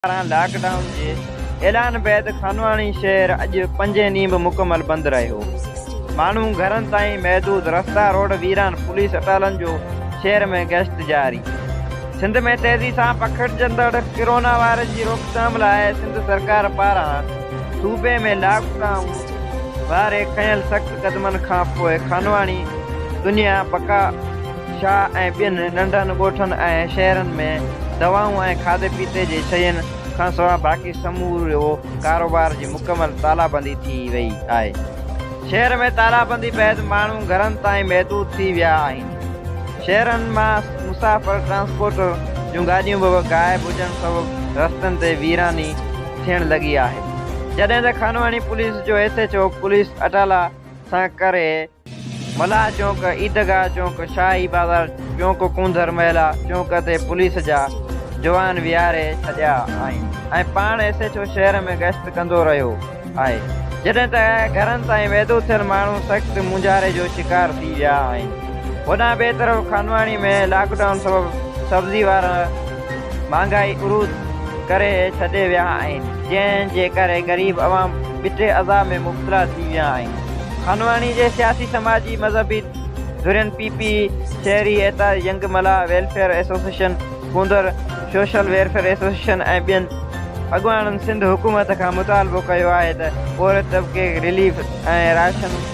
پاران lockdown جي اعلان بعد خانواڻي شهر اڄ پنجين ڏينهن به مڪمل بند رهيو. ماڻهو گهرن تائين محدود، رستا روڊ ويران، پوليس اٽالن جو شهر ۾ گشت جاري. سنڌ ۾ تيزي سان پکڙجندڙ ڪرونا وائرس جي روڪٿام لاء سنڌ سرڪار پاران صوبي ۾ لاڪ ڊائون واري کنيل سخت قدمن کانپوء خانواڻي دنيا بقا، شاهه ۽ ٻين ننڍن ڳوٺن ۽ شهرن ۾ دوائون ۽ کاڌي پيتي جي شين کان سواء باقي سمورو ڪاروبار جي مڪمل تالابندي ٿي وئي آهي. شهر ۾ تالابندي بعد ماڻهو گهرن تائين محدود ٿي ويا آهن. شهرن مان مسافر ٽرانسپورٽ جون گاڏيون به غائب هجڻ سبب رستن تي ويراني ٿيڻ لڳي آهي. جڏهن ته خانواهڻي پوليس جو ايس ايڇ او پوليس اٽالا سان ڪري ملاح چونڪ، عيدگاهه چونڪ، شاهي بازار چونڪ، ڪونڌر محلا چونڪ تي پوليس جا جوان ويهاري ڇڏيا آهن ۽ پاڻ ايس ايڇ او شهر ۾ گشت ڪندو رهيو آهي جڏهن ته گهرن تائين ويدو ٿيل ماڻهو سخت مونجهاري جو شڪار ٿي ويا آهن. هوڏانهن ٻئي طرف خانواڻي ۾ لاڪ ڊائون سبب سبزي وارا مهانگائي عروج ڪري ڇڏي ويا آهن جنهن جي ڪري غريب عوام ٻٽي عذاب ۾ مبتلا ٿي ويا آهن. خانواڻي جي سياسي سماجي مذهبي ڌرين پي پي، شهري ايتار، ينگ ملاح ويلفيئر ايسوسيئشن، ڪونڌر شوشل ويرفيئر ايسوسيئشن ۽ ٻين اڳواڻن سنڌ حڪومت کان مطالبو ڪيو آهي ته پورهيت طبقي کي رليف ۽ راشن